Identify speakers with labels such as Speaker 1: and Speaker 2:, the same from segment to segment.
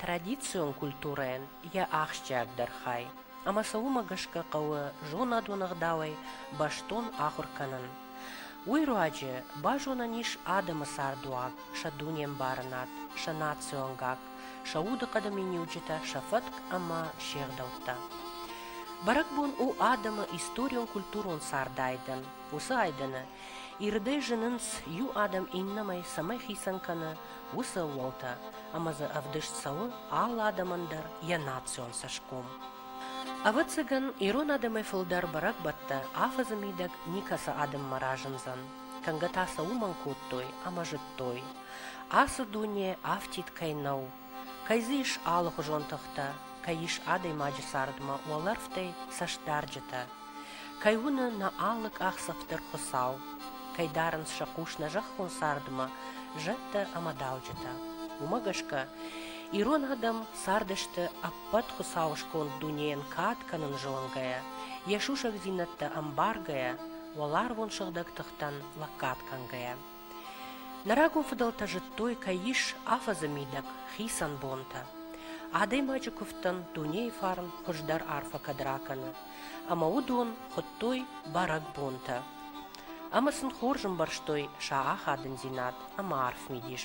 Speaker 1: традицион культурӕйӕн йӕ ахсджиагдӕр хай, ӕмӕ сӕ уымӕ гӕсгӕ хъӕуы зонадон ӕгъдауӕй бӕстон ахуыр кӕнын. Уый руаджы базонӕн ис адӕмы цардуаг, сӕ дунембарынад, сӕ национ гакк, сӕ удыхъӕды миниуджытӕ, сӕ фӕтк ӕмӕ се гъдӕуттӕ. Бӕрӕгбон у адӕмы историон-культурон цардайдӕн. Уыцы айдӕны ирдӕй зынынц иу адӕм иннӕмӕй цӕмӕй хицӕн кӕны, уыцы ӕууӕлтӕ ӕмӕ дзы ӕвдыст цӕуы алы адӕмӕн дӕр йӕ национ цӕсгом. Ӕвӕццӕгӕн, ирон адӕмӕй фылдӕр бӕрӕгбӕттӕ афӕдзы мидӕг никӕцы адӕммӕ разындзӕн, кӕнгӕ та сӕ уымӕн кодтой ӕмӕ зыдтой, ацы дуне афтид кӕй нӕу, кӕй дзы ис алыхуызон тыхтӕ, кӕй ис адӕймаджы цардмӕ уӕлӕрвтӕй цӕстдарджытӕ, Кӕй уыны нӕ алы къахдзӕф дӕр Хуыцау, кӕй дарынц сӕ хъус нӕ зӕххон цардмӕ зӕдтӕ ӕмӕ дауджытӕ. Уымӕ гӕсгӕ ирон адӕм цардысты ӕппӕт Хуыцауы сконд дунейӕн кад кӕнын зонгӕйӕ, йӕ сусӕгдзинӕдтӕ ӕмбаргӕйӕ, уӕларвон сыгъдӕг тыхтӕн лӕггад кӕнгӕйӕ. Нӕ рагон фыдӕлтӕ зыдтой, кӕй ис афӕдзы мидӕг хицӕн бонтӕ. Адӕймаджы куывдтӕн дунейы фарн хуыздӕр арфӕ кӕд ракӕны, ӕмӕ уыдон хуыдтой бӕрӕгбонтӕ. Ӕмӕ сын хорз ӕмбӕрстой сӕ ахадындзинад ӕмӕ арф мидис.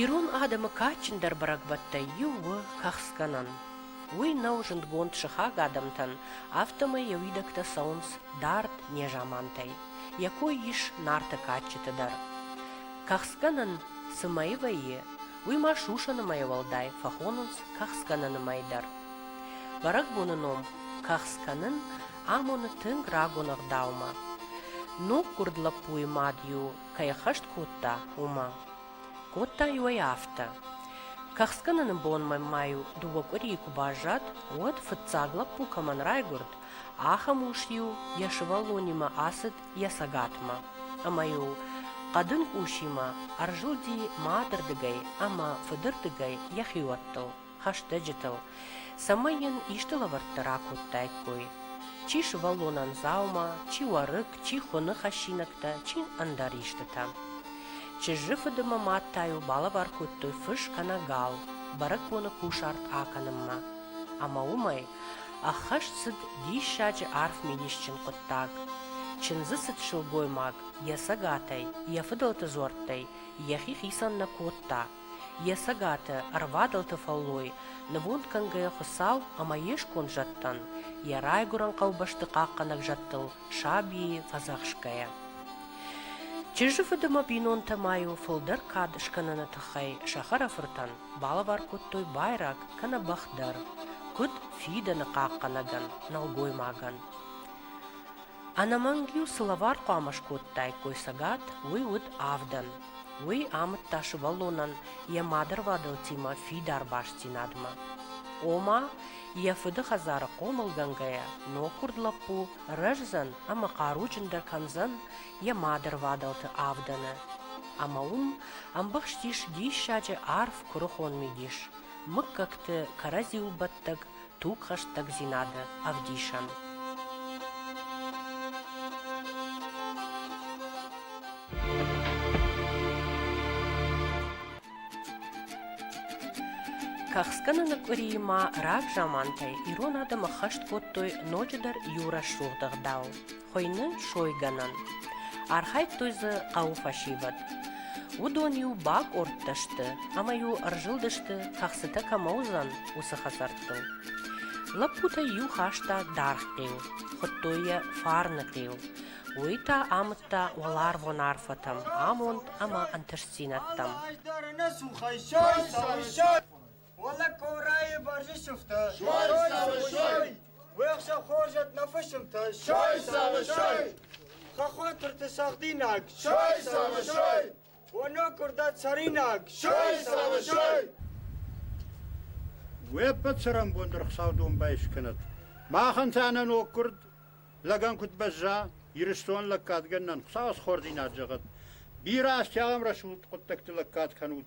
Speaker 1: Ирон адӕмы кадджындӕр бӕрӕгбӕттӕй иу у кӕхцгӕнӕн. Уый нӕу зындгонд сыхаг адӕмтӕн, афтӕмӕй йӕ уидӕгтӕ цӕуынц дард незамантӕй. Йӕ кой ис нарты кадджыты дӕр. Кӕхцгӕнӕн цы мӕйы вӕййы, уый ма сусӕны мӕйы уӕлдай фӕхонынц кӕхцгӕнӕны мӕй дӕр. Бӕрӕгбоны ном кӕхцгӕнӕн амоны тынг рагон ӕгъдаумӕ, ноггуырд лӕппуйы мад-иу кӕй хӕст кодта, уымӕ. Кодта-иу ӕй афтӕ. Кӕхцкӕныны бонмӕ ма-иу дыууӕ къуырийы куы баззад, уӕд, фыццаг лӕппу кӕмӕн райгуырд, ахӕм ус-иу йӕ сывӕллонимӕ ацыд йӕ цӕгатмӕ ӕмӕ-иу хъӕдын къусимӕ ӕрзылди мадырдыгӕй ӕмӕ фыдырдыгӕй йӕ хиуӕттыл. хӕстӕджытыл, цӕмӕй йын исты лӕвӕрттӕ ракодтаиккой. Чи сывӕллонӕн дзаума, чи уӕрыкк, чи хуыны хӕссинӕгтӕ, чи ӕндӕр истытӕ. Чызджы фыдымӕ мад та йыл балӕвар кодтой фыс кӕнӕ гал бӕрӕгбоны кусарт акӕнынмӕ. Ӕмӕ уымӕй ӕххӕст цыд диссаджы арф мидисджын хъуыддаг. Чындзы цыд сылгоймаг йӕ цӕгатӕй, йӕ фыдӕлты дзуӕрттӕй йӕхи хицӕн нӕ кодта, Йӕ цӕгаты, ӕрвадӕлты фӕллой, нывонд кӕнгӕйӕ Хуыцау ӕмӕ йе сконд зӕдтӕн, йӕ райгуырӕн хъӕубӕсты хъахъхъӕнӕг зӕдтыл сабийы фӕдзӕхсгӕйӕ. Чызджы фыд ӕмӕ бинонтӕ ма-иу фылдӕр кад скӕныны тыххӕй сахара-фыртӕн балӕвар кодтой байраг, кӕнӕ бӕх дӕр, куыд фидӕны хъахъхъӕнӕгӕн, нӕлгоймагӕн. Ӕнӕмӕнг-иу цы лӕвар хъуамӕ скодтаиккой цӕгат, уый уыд авдӕн. Уый амыдта сывӕллонӕн йӕ мадырвадӕлтимӕ фидар бастдзинадмӕ. Ома, йӕ фыды хӕдзары хъомылгӕнгӕйӕ, ноггуырд лӕппу рӕздзӕн ӕмӕ хъаруджындӕр кӕндзӕн йӕ мадырвадӕлты авдӕны. Ӕмӕ уым ӕмбӕхстис диссаджы арф куырыхон мидис, мыггӕгты кӕрӕдзиуыл бӕттӕг тугхӕстӕгдзинады ӕвдисӕн. Кахскӕныны къуырийы ма рагзамантӕй ирон адӕмы хӕст кодтой ноджыдӕр иу рӕсугъд ӕгъдау. хуыйны сойгӕнӕн. Архайдтой дзы хъӕуы фӕсивӕд. Уыдон-иу бакъордтӕ сты ӕмӕ-иу ӕрзылдысты, кӕхцытӕ кӕмӕ уыдзӕн, уыцы хӕдзӕрттыл. Лӕппутӕй-иу хаста даргъ хъил, хуыдтой йӕ фарны хъил. Уый та амыдта уӕларвон арфӕтӕм, амонд ӕмӕ ӕнтыстдзинӕдтӕм. Уӕллаг Кълрайы бӕрзы сыфтӕ. Сой цӕвы, сой! Уӕхсӕ хорзӕт нӕ фысымтӕ. Сой цӕвы, сой! Хӕххотырты цӕгъдинаг. Сой цӕвы, сой! Оно куырдат цӕринаг. Сой цӕвы, сой! Уе ппӕт цӕрӕнбонты рыхсау домбай скӕнӕт. Махӕн та нӕ ног куырд лӕгӕн куыд бӕзза, Ирыстон лӕггадгӕнӕн Хуыцауы схордзинад зӕгъӕт. Бирӕ азтӕ ахӕм рӕсугъд хъуыддӕгты лӕггад кӕнут,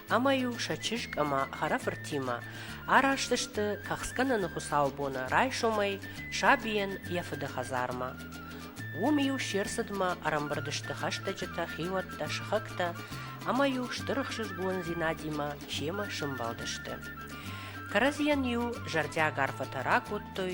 Speaker 1: ӕмӕ-иу сӕ чызг ӕмӕ хӕрӕфыртимӕ араст сты тӕхсгӕнӕны хуыцаубоны райсомӕй сабийӕн йӕ фыды хӕдзармӕ. Уым-иу се рцыдмӕ ӕрӕмбырд сты хӕстӕджытӕ, хиуӕттӕ, сыхӕгтӕ ӕмӕ-иу стыр ӕхсызгондзинадимӕ семӕ сӕмбӕлдысты. Кӕрӕдзийӕн-иу зӕрдиаг арфӕтӕ ракодтой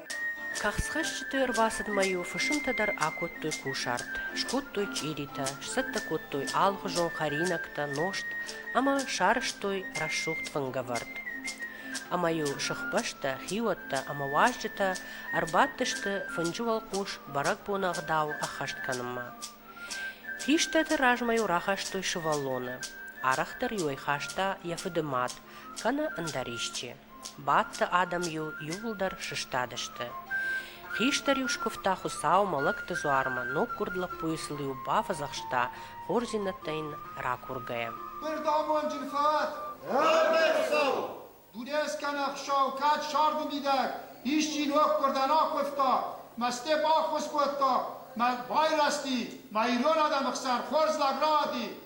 Speaker 1: Кӕхцхӕсджыты ӕрбацыдмӕ-иу фысымтӕ дӕр акодтой кусарт, скодтой чъиритӕ, сцӕттӕ кодтой алыхуызон хӕринӕгтӕ, нозт ӕмӕ сарӕзтой рӕсугъд фынгӕвӕрд. Ӕмӕ-иу сыхбӕстӕ, хиуӕттӕ ӕмӕ уазджытӕ ӕрбадтысты фынджы уӕлхъус бӕрӕгбоны ӕгъдау ӕххӕст кӕнынмӕ. Хистӕрты размӕ-иу рахастой сывӕллоны. Арӕхдӕр-иу ӕй хаста йӕ фыды мад, кӕнӕ ӕндӕр исчи. Бадты адӕм-иу иууылдӕр сыстадысты. Хистӕр-иу скуывта Хуыцаумӕ, лӕгты дзуармӕ, ноггуырд лӕппуйы сыл-иу бафӕдзӕхста, хорздзинӕдтӕ йын ракургӕйӕ. Бердамонджын фӕд! Ӕргӕй, Хуыцау! Дудӕ скӕн ӕхсӕв, кӕд сӕрды мидӕг исчи ноггуырдӕн акуывта, мӕсте баххуыс кодта, мӕ байрӕзти, мӕ ирон адӕмы хсӕн хорз лӕг раади,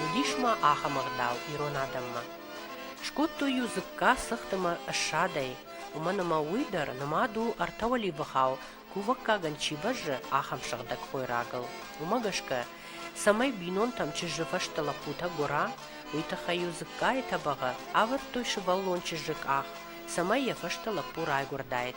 Speaker 1: Уыдис ма ахӕм ӕгъдау ирон адӕммӕ. Скодтой-иу дзыкка цыхтымӕ ссадӕй, уымӕн ӕмӕ уый дӕр нымад у ӕртӕ уӕливыхау, кувӕггагӕн чи бӕззы, ахӕм сыгъдӕг хойрагыл. Уымӕ гӕсгӕ, цӕмӕй бинонтӕм чызджы фӕстӕ лӕппутӕ гуыра, уый тыххӕй-иу дзыккайы тӕбӕгъы ӕвӕрдтой сывӕллон чызджы къах, цӕмӕй йӕ фӕстӕ лӕппу райгуырдаид.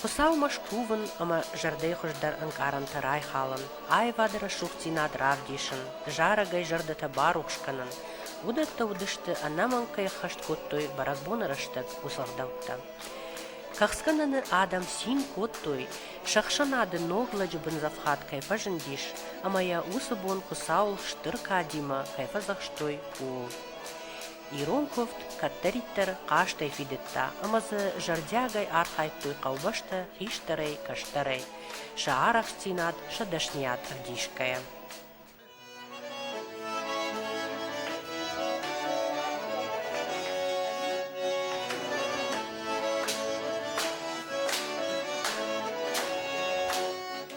Speaker 1: Хуыцаумӕ скувын ӕмӕ зӕрдӕйы хуыздӕр ӕнкъарӕнтӕ райхалын, аивады рӕсугъддзинад равдисын, зарӕгӕй зӕрдӕтӕ барухс кӕнын, уыдӕттӕ уыдысты, ӕнӕмӕнг кӕй ӕххӕст кодтой бӕрӕгбоны рӕстӕг уыцы ӕгъдӕуттӕ. Кӕхцгӕнӕны адӕм цин кодтой, сӕ ӕхсӕнады ног лӕджы бындзӕфхад кӕй фӕзындис ӕмӕ йӕ уыцы бон Хуыцау стыр кадимӕ кӕй фӕдзӕхстой, ууыл. Ирон куывд кӕддӕриддӕр хъазтӕй фидыдта ӕмӕ дзы зӕрдиагӕй архайдтой хъӕубӕстӕ хистӕрӕй, кӕстӕрӕй, сӕ арӕхстдзинад, сӕ дӕсныйад ӕвдисгӕйӕ.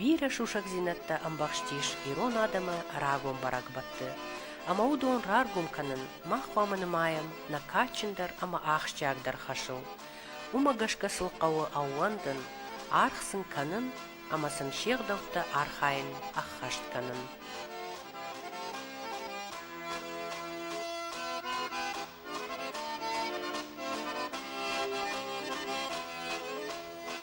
Speaker 1: Бирӕ сусӕгдзинӕдтӕ ӕмбӕхстис ирон адӕмы рагон бӕрӕгбӕтты, ӕмӕ уыдон раргом кӕнын мах хъуамӕ нымайӕм нӕ кадджындӕр ӕмӕ ахсджиагдӕр хӕсыл. Уымӕ гӕсгӕ сыл хъӕуы ӕууӕндын, аргъ сын кӕнын ӕмӕ сын се гъдӕуттӕ архайын ӕххӕст кӕнын.